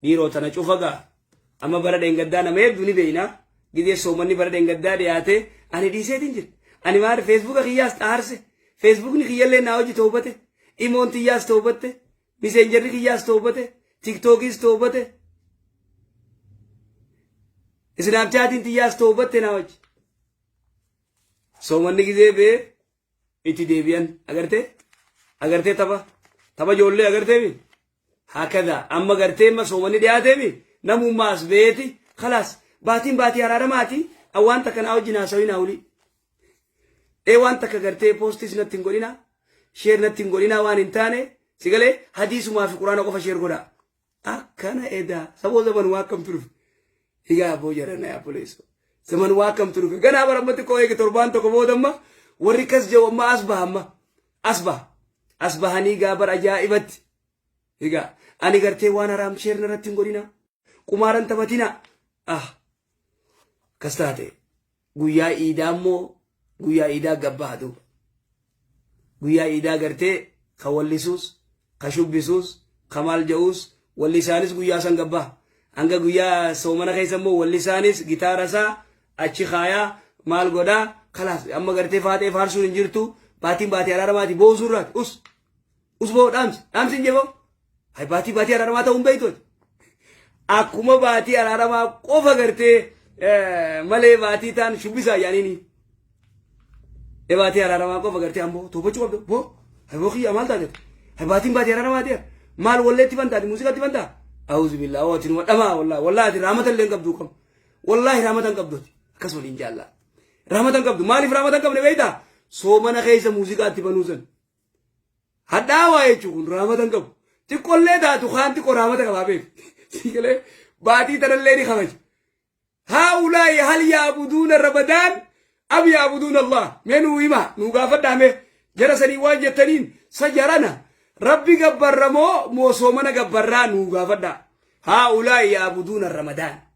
Dhiiroo tana cufa gaa. Amma bara dheengaddaa nama hedduu ni beeyna. Gizee soomanni bara dheengaddaa dhiyaatee ani dhiiseetiin jira. Ani maal feesbuuka kiyyaas xaarse. Feesbuukni kiyyallee naa hojii toobate. Imoon tiyyaas toobatte. Miseenjarri kiyyaas toobate. Tiktookiis toobate. Isnaapchaatiin tiyyaas toobatte naa hojii. Soomanni gizee bee itti deebi'an agartee agartee tapha tapha ijoollee agartee mi hakada amma gartee amma soomanii dhiyaatee mi namummaa as beeti kalaas baatiin baatii araaramaati waan takka naa wajjin haasawii naa olii ee waan takka gartee poostis natti hin godhina sheer natti hin godhina waan hin taane sigalee hadiisumaa fi quraana qofa sheer godha akkana edaa saboo zaman waa akkamtu dhufe egaa aboo jarana yaa buleeso zaman waa akkamtu dhufe ganaa barammatti koo eege torbaan tokko boodamma warri kas jedhu amma as baha amma as baha as bahanii egaa bara ajaa'ibatti egaa ani gartee waan haraam sheerna irratti hin godhina qumaaran taphatina ah kas taate guyyaa iidaa immoo guyyaa iidaa gabbaha duuba guyyaa iidaa gartee ka wallisuus ka shubbisuus ka maal ja'uus wallisaanis guyyaa san gabbaha hanga guyyaa soomana keessa immoo wallisaanis gitaara isaa achi kaayaa maal godhaa kalaas amma gartee faatee faarsuun hin jirtu baatiin baatee araaramaati boosuu irraati us Usboo dhaamsi dhaamsi hin jeboo. Ay baatii baatii araaramaa ta'uun beektooti. Akkuma baatii araaramaa qofa gartee malee baatii taan shubbisaa yaaniini. E baatii araaramaa qofa gartee ammoo toofachuu qabda boo. Ay boo kiyya maal taate? Ay baatiin baatii araaramaa ta'e maal walleetti bantaati muuziqaatti bantaa? Awuzu billaa ooti numa dhamaa wallaahi wallaahi ati raamata illee hin qabduu qabu. Wallaahi raamata hin qabdooti akkas waliin jaallaa. Raamata hin qabdu maaliif raamata hin qabne beektaa? Soomana keessa muuziqaatti banuu sana. Hadhaawaa jechuun kun raamata hin qabu. Xiqqollee taatu kaan xiqqoo raamata qabaa beeku. Siigalee baatii tanallee ni kabaja. Haa ulaayi hal yaabuduuna rabadaan am yaabuduuna Allah. Mee nuu himaa nuu gaafadhaa mee jara sanii waan jettaniin sa jarana rabbi gabbarra moo moo soomana gabbarraa nuu gaafadhaa. Haa ulaayi yaabuduuna ramadaan.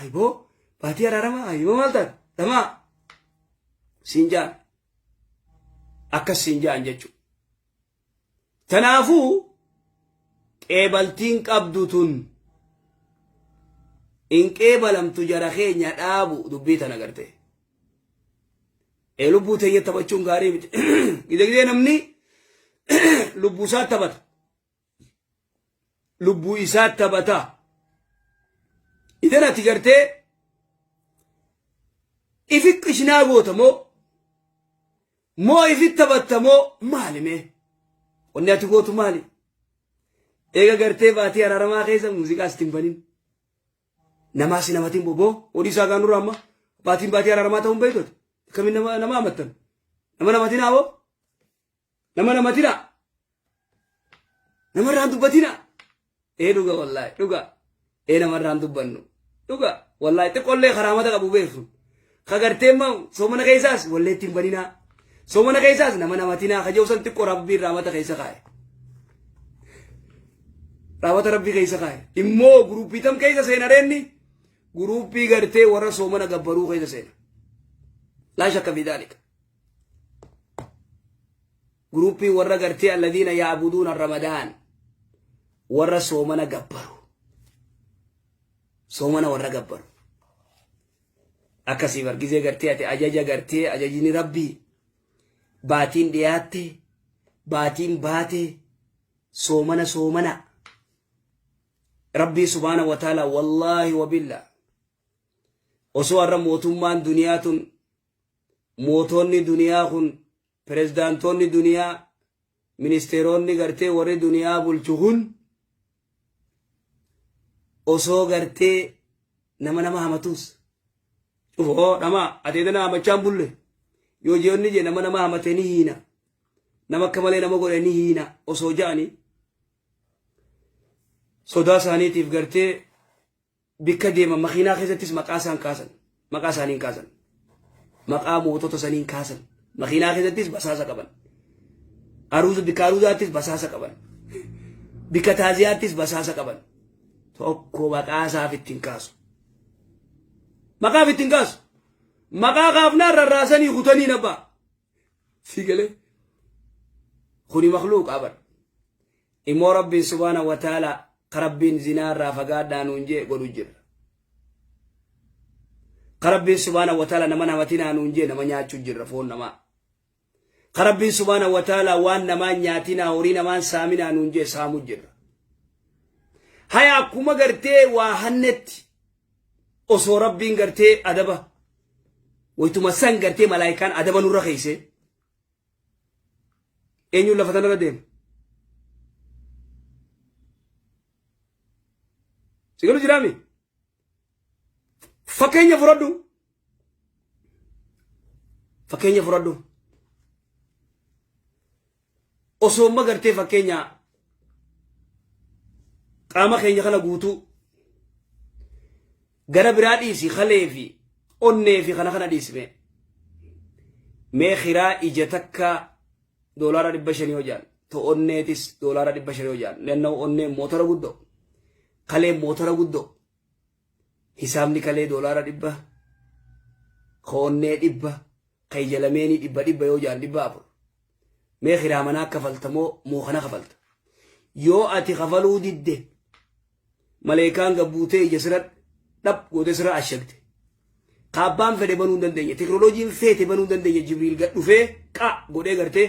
Ayboo baatii araaramaa ayboo maal taate dhamaa siin jaan akkas siin jaan jechuudha. Kanaafuu qeebaltiin qabdu tun hin qeebalamtu jara keenya dhaabu dubbii tana garte. Ee lubbuu teenya taphachuun gaarii miti. Gidegdee namni lubbuu isaa taphata. lubbuu isaa taphataa idan ati gartee ifi qishnaa goota moo moo ifi taphatta moo maali mee wanni ati gootu maali eega gartee baatii araaramaa keessa muuziqaa sitti hin banin namaa si namatiin boboo odii isaa gaanurra amma baatiin baatii araaramaa ta'uun beektote akkamiin nama nama amattan nama namatiin haawoo nama nama tira nama irraan dubbatina ee dhuga wallaahi dhuga ee nama irraan dubbannu dhuga wallaahi xiqqollee karaamata qabu beeku kagartee ma soomana keessaas wallee ittiin baninaa soomana keessaas nama namatinaa kajoofsan xiqqoo rabbiin raamata keessa kaa'e raawwata rabbii keessa kaa'e immoo guruuppii tam keessa seena reenni guruuppii gartee warra soomana gabbaruu keessa seena laa shakka fi daalika Guruuppii warra gartee alladiina yaabuduuna ramadaan warra soomana gabbaru. Soomana warra gabbaru. Akkasii bargizee gartee ati ajaja gartee ajajini rabbii baatiin dhiyaatte baatiin baate soomana soomana. Rabbii subhaana wa ta'ala wallaahi wa billaa. Osoo har'a mootummaan duniyaa tun mootoonni duniyaa kun pirezidaantoonni duniyaa ministeeroonni gartee warri duniyaa bulchu kun osoo gartee nama nama hamatuus cufa hoo dhama ateeta na hamachaan bulle yoo ji'onni jee nama nama hamatee ni hiina nama akka malee nama godhe ni hiina osoo ja'anii sodaa isaaniitiif gartee Bikka deeman makiinaa keessattis maqaa isaan kaasan. Maqaa isaaniin kaasan. Maqaa mootota saniin kaasan. Makiinaa keessattis basaasa qaban. Aruuza bikka aruuzaattis basaasa qaban. Bikka taaziyaattis basaasa qaban. Tokko maqaa isaaf ittiin kaasu. Maqaaf ittiin kaasu. Maqaa kaafnaan rarraasanii kutaniin abbaa. sii galee kuni makluuqaa bar immoo rabbiin subhaana wa taala ka rabbiin zinaa irraa fagaadhaa nuun jee godhu jirra ka rabbiin subhaana wa taala nama namatinaa nuun jee nama nyaachuu jirra foon namaa ka rabbiin subhaana wa taala waan namaa nyaatinaa horii namaan saaminaa nuun jee saamuu jirra haya akkuma gartee waa hannetti osoo rabbiin gartee adaba waytuma san gartee malaayikaan adaba nurra keeysee eenyuun lafa tanarra deema sigalu jiraami fakkeenya fudhadhu fakkeenya fudhadhu osoo amma gartee fakkeenya qaama keenya kana guutuu gara biraa dhiisi kalee fi onnee fi kana kana dhiisime mee kiraa ija takka doolaara dhibba shanii hojaan to onneetis doolaara dhibba shanii hojaan nanna'u onneen motora guddoo kaleen motora guddoo Hisaabni kalee doolaara dhibba, ka onnee dhibba, ka ija lameenii dhibba dhibba yoo jaan dhibba afur. Mee kiraa manaa kafalta moo moo kana kafalta? Yoo ati kafaluu didde maleekaan gabbuutee ija sira dhab goote sira ashagde. Ka abbaan fedhe banuu hin dandeenye. Teknoloojiin feete banuu hin dandeenye. Jibriil gad dhufee qa godhee gartee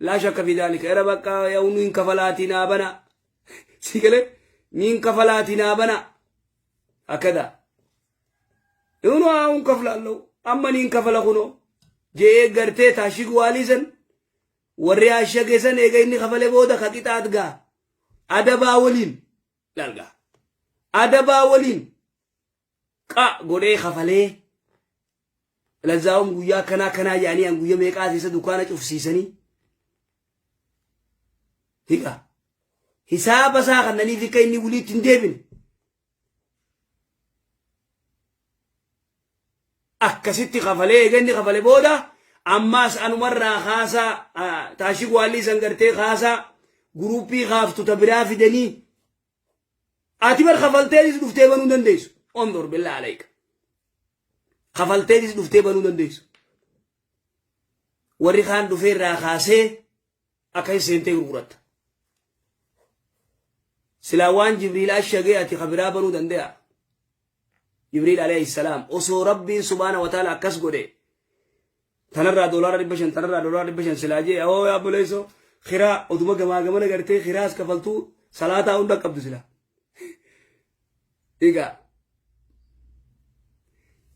Laa shakka fi daalika era bakka yaa'u niin kafalaatii naa banaa sii galee niin kafalaatii naa banaa akkada Yunu haa'uun kaflaallau amma niin kafala kunoo je'ee gartee taashig waalii san warri ashage san eega inni kafale booda ka qixaat gaa adabaa waliin lalgaa adabaa waliin qa godhee kafalee lazzaawum guyyaa akkanaa akkanaa jedhanii an guyya meeqaa keessa dukkaana cufsiisanii higa hisaaba isaa kannaniif akka inni waliitti hin deebine akkasitti kafalee eega inni kafale booda ammaas anumarraa kaasaa ah, taashii waallii san gartee kaasaa guruuppii kaaftu ta biraa fidanii Ati bar kafalteetis dhuftee banuu dandeessu. Ondur billaa alayka. Kafalteetis dhuftee banuu dandeessu. Warri kaan dhufee irraa kaasee akka hin seentee gurguratta. Silaa waan Jibriil ashagee ati kabiraa banuu dandee'a. Jibriil Aleeyhi Salaam osoo Rabbiin Subhaanahu wa Ta'aalaa akkas godhe tanarraa doolaara dhibba shan tanarraa doolaara dhibba shan silaa jee awoo yaa obboleessoo kiraa oduma gamaa gamana gartee kiraas kafaltuu salaataa hunda qabdu silaa. Egaa